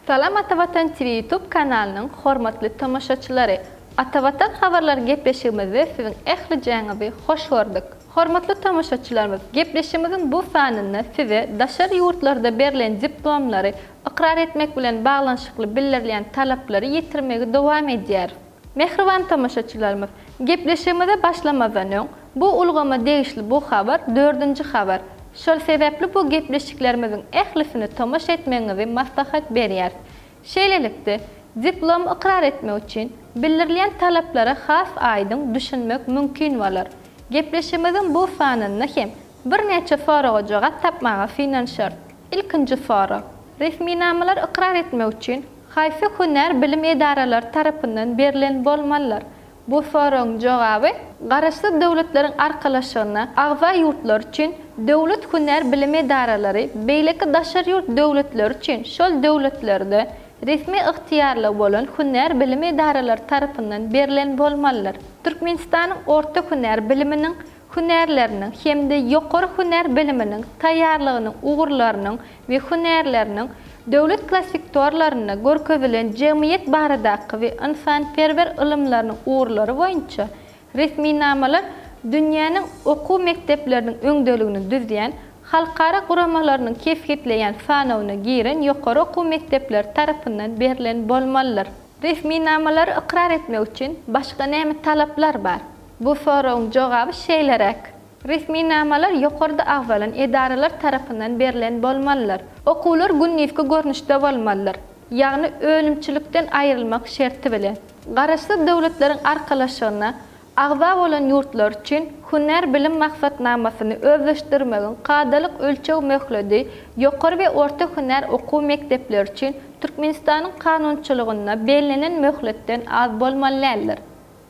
Salam Atavatan TV YouTube kanalynyň hormatly tomaşaçylary! Atavatan habarlary gepleşigimizde siziň ählijäňizi hoş gördük. Hormatly tomaşaçylarymyz, gepleşigimiziň bu sanynda size daşary ýurtlarda berlen diplomlary ykrar etmek bilen baglanyşykly bildirilýän talaplary ýetirmegi dowam edýäris. Mähriban tomaşaçylarymyz, gepleşigimize başlamazdan öň, bu ulgama degişli bu habar dördünji habar. Şol sebäpli bu gepleşiklerimiziň ählisini tomaşa etmegiňizi maslahat berýäris. Şeýlelikde, diplomy ykrar etmek üçin bildirilýän talaplara has aýdyň düşünmek mümkin bolar. Gepleşigimiziň bu sanynda hem birnäçe soraga jogap tapmaga synanyşarys. Ilkinji sorag. Resminamalary ykrar etmek üçin haýsy hünär bilim edaralary tarapyndan berlen bolmalydyr? Bu soragyň jogaby Garaşsyz Döwletleriň Arkalaşygyna agza ýurtlar üçin döwlet hünär bilim edaralary beýleki daşary ýurt döwletleri üçin şol döwletlerde resmi ygtyýarlygy bolan hünär bilim edaralary tarapyndan berlen bolmalydyr. Türkmenistanyň orta hünär biliminiň hünärleriniň hem-de ýokary hünär biliminiň, taýýarlygynyň ugurlarynyň we hünärleriniň döwlet klassiktorlarynda görkezilen jemgyýet baradaky we ynsanperwer ylymlarynyň ugurlary boýunça resminamalar dünýäniň okuw mekdepleriniň öňdeligini düzýän halkara guramalarynyň kesgitleýän sanawyna giren ýokary okuw mekdepleri tarapyndan berlen bolmalydyr. Resminamalary ykrar etmek üçin başga näme talaplar bar? Bu soragyň jogaby şeýleräk. Resminamalar ýokarda agzalan edaralar tarapyndan berlen bolmalydyr. Okuwlar gündizki görnüşde bolmalydyr, ýagny önümçilikden aýrylmak şerti bilen. Garaşsyz döwletleriň arkalaşygyna Agza bolan ýurtlar üçin hünär bilim maksatnamasyny özleşdirmegiň kadalyk ölçeg möhledi ýokary we orta hünär okuw mekdepleri üçin Türkmenistanyň kanunçylygynda bellenen möhletden az bolmaly däldir.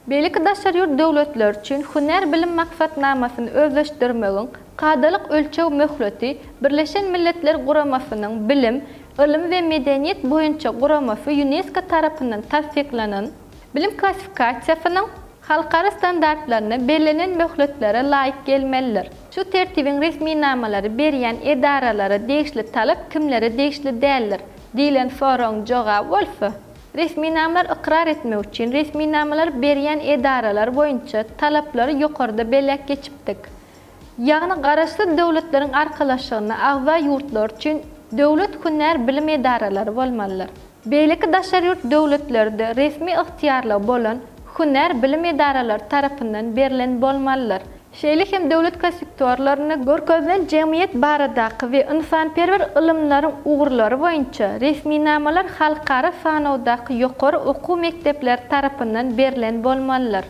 Beýleki daşary ýurt döwletleri üçin hünär bilim maksatnamasyny özleşdirmegiň kadalyk ölçeg möhleti Birleşen Milletler Guramasynyň Bilim, ylym we medeniýet boýunça guramasy, Ýunesko, tarapyndan tassyklanan, Bilim klassifikasiýasynyň halkara standartlaryna bellenen möhletlere laýyk gelmelidir. Şu Tertibiň resminamalary berýän edaralara degişli talap kimlere degişli däldir? diýlen soragyň jogaby bolsa, resminamalar ykrar etmek üçin resminamalary berýän edaralar boýunça talaplary ýokarda belläp geçipdik. ýagny Garaşsyz Döwletleriň Arkalaşygyna agza ýurtlar üçin döwlet hünär bilim edaralary bolmalydyr. Beýleki daşary ýurt döwletleri-de resmi ygtyýarlygy bolan hünär bilim edaralary tarapyndan berlen bolmalydyr. Şeýle hem döwlet kossektorlarynda görkezilen jemgyýet baradaky we ynsanperwer ylymlaryň ugurlary boýunça resminamalar halkara sanawdaky ýokary okuw mekdepleri tarapyndan berlen bolmalydyr.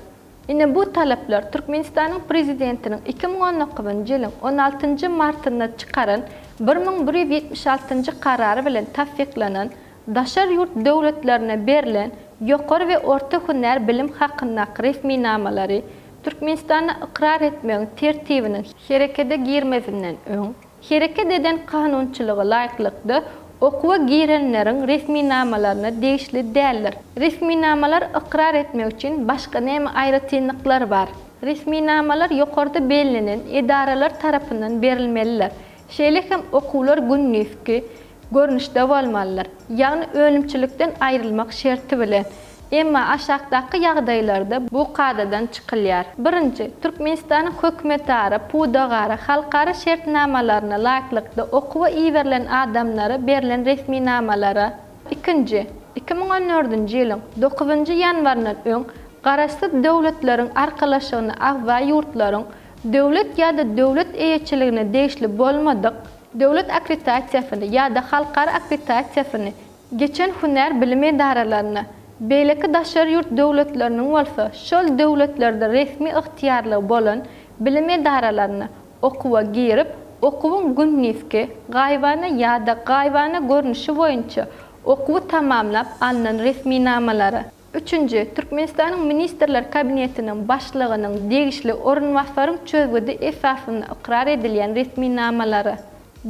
Ine bu talaplar Türkmenistanyň Prezidentiniň iki müň on dokuzynjy ýylyň on altynjy martynda çykaran bir müň bir ýüz ýetmiş altynjy Karary bilen tassyklanan Daşary ýurt döwletlerine berlen ýokary we orta hünär bilim hakyndaky resminamalary Türkmenistanda ykrar etmegiň Tertibiniň herekete girmezinden öň Hereket eden kanunçylygy laýyklykda okuwa girenleriň resminamalaryna degişli däldir. Resminamalar ykrar etmek üçin başga näme aýratynlyklar bar? Resminamalar ýokarda bellenen edaralar tarapyndan berilmelidir. Şeýle hem okuwlar gündizki, görnüşde bolmalydyr, ýagny önümçilikden aýrylmak şerti bilen. Emma aşakdaky ýagdaýlarda bu kadadan çykylýar. Birinji, Türkmenistanyň hökümetara, pudagara, halkara şertnamalaryna laýyklykda okuwa iberilen adamlara berlen resminamalara. Ikinji, iki müň on dördünji ýylyň dokuzynjy ýanwaryndan öň Garaşsyz Döwletleriň Arkalaşygyna agza ýurtlaryň döwlet ýa-da döwlet eýeçiligine degişli bolmadyk, döwlet akkreditasiýasyny ýa-da halkara akkreditasiýasyny geçen hünär bilimi edaralaryna, beýleki daşary ýurt döwletleriniň bolsa şol döwletlerde resmi ygtyýarlygy bolan bilim edaralaryna okuwa girip, okuwyň gündizki, gaýybana ýa-da gaýybana görnüşi boýunça okuwy tamamlap alnan resminamalara. Üçünji, Türkmenistanyň Ministrler Kabinetiniň Başlygynyň degişli orunbasaryň çözgüdi esasynda ykrar edilýän resminamalary.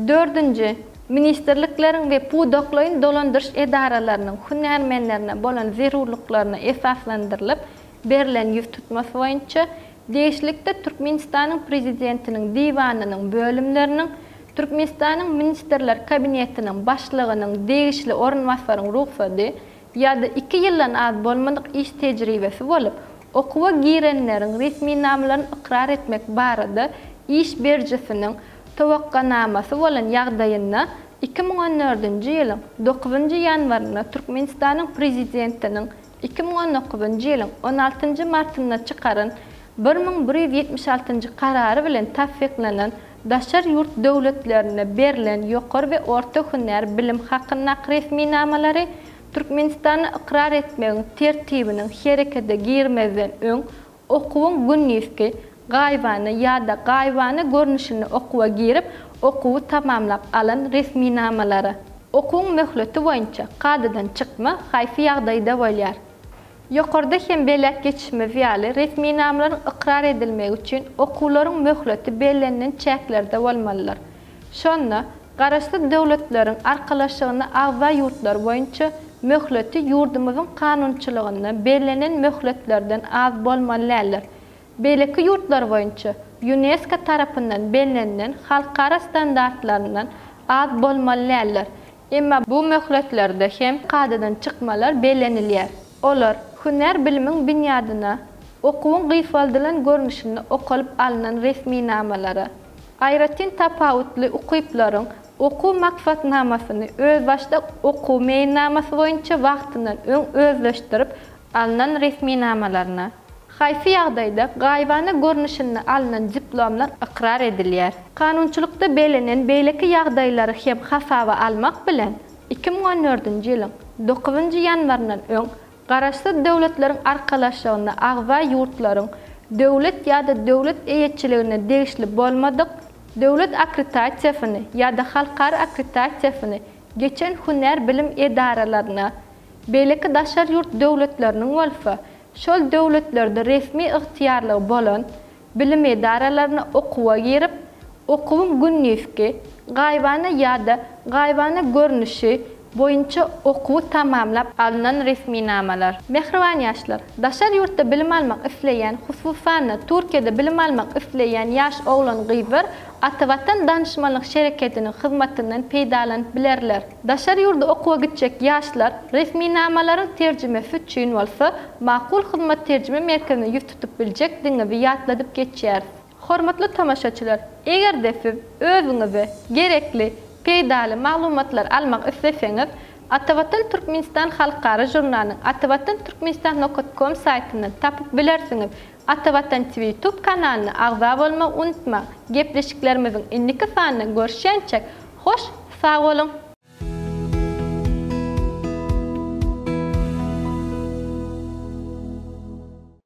Dördünji, ministrlikleriň we pudaklaýyn dolandyryş edaralarynyň hünärmenlerine bolan zerurlyklaryna esaslandyrylyp berlen ýüztutma boýunça degişlilikde Türkmenistanyň Prezidentiniň Diwanynyň bölümleriniň Türkmenistanyň Ministrler Kabinetiniň Başlygynyň degişli orunbasaryň rugsady ýa-da iki ýyldan az bolmadyk iş tejribesi bolup, okuwa girenleriň resminamalaryny ykrar etmek barada iş berijisiniň towakganamasy bolan ýagdaýynda iki müň on dördünji ýylyň dokuzynjy ýanwarynda Türkmenistanyň Prezidentiniň iki müň on dokuzynjy ýylyň on altynjy martynda çykaran bir müň bir ýüz ýetmiş altynjy Karary bilen tassyklanan Daşary ýurt döwletlerinde berlen ýokary we orta hünär bilim hakyndaky resminamalary Türkmenistanda ykrar etmegiň tertibiniň herekete girmezden öň okuwyň gündizki, gaýybana ýa-da gaýybana görnüşinde okuwa girip, okuwy tamamlap alan resminamalary. Okuwyň möhleti boýunça kadadan çykma haýsy ýagdaýda bolýar? Ýokarda hem belläp geçişimiz ýaly, resminamalaryň ykrar edilmegi üçin okuwlaryň möhleti bellenilen çäklerde bolmalydyr. Şonda, Garaşsyz Döwletleriň Arkalaşygyna agza ýurtlar boýunça möhleti ýurdumyzyň kanunçylygynda bellenen möhletlerden az bolmaly däldir. Beýleki ýurtlar boýunça, Ýunesko tarapyndan bellenilen halkara standartlaryndan az bolmaly däldir. Emma bu möhletlerde hem kadadan çykmalar bellenilýär. Olar, hünär bilimiň binýadyna, okuwyň gysgaldylan görnüşinde okalyp alnan resminamalara, aýratyn tapawutly ukyplaryň okuw maksatnamasyny özbaşdak okuw meýilnamasy boýunça wagtyndan öň özleşdirip alnan resminamalaryna, haýsy ýagdaýda gaýybana görnüşinde alnan diplomlar ykrar edilýär. Kanunçylykda bellenen beýleki ýagdaýlary hem hasaba almak bilen, iki müň on dördünji ýylyň dokuzynjy ýanwaryndan öň Garaşsyz Döwletleriň Arkalaşygyna agza ýurtlaryň döwlet ýa-da döwlet eýeçiligine degişli bolmadyk döwlet akkreditasiýasyny ýa-da halkara akkreditasiýasyny geçen hünär bilim edaralaryna Beýleki daşary ýurt döwletleriniň bolsa şol döwletlerde resmi ygtyýarlygy bolan bilim edaralaryna okuwa girip, okuwyň gündizki, gaýybana ýa-da gaýybana görnüşi boýunça okuwy tamamlap, alnan resminamalar. Mähriban ýaşlar! Daşary ýurtda bilim almak isleýän, hususan-da, Türkiýede bilim almak isleýän ýaş oglan-gyzlar Atavatan Danşmanlyk şereketiniň hyzmatyndan peýdalanyp bilerler. Daşary ýurda okuwa gitjek ýaşlar resminamalaryň terjimesi üçin bolsa Makul Hyzmat Terjime Merkezine ýüz tutup biljekdigiňizi ýatladyp geçýäris. Hormatly tomaşaçylar, eger-de siz özüňize gerekli peýdaly maglumatlar almak isleseňiz, Atavatan Türkmenistan halkara žurnalynyň atavatan-turkmenistan nokat kom saýtyndan tapyp bilersiňiz. Atavatan Twitub kanalyna agza bolmagy unutma Gepleşiklerimiziň indiki sanyna görüşýänçek hoş sag boluň.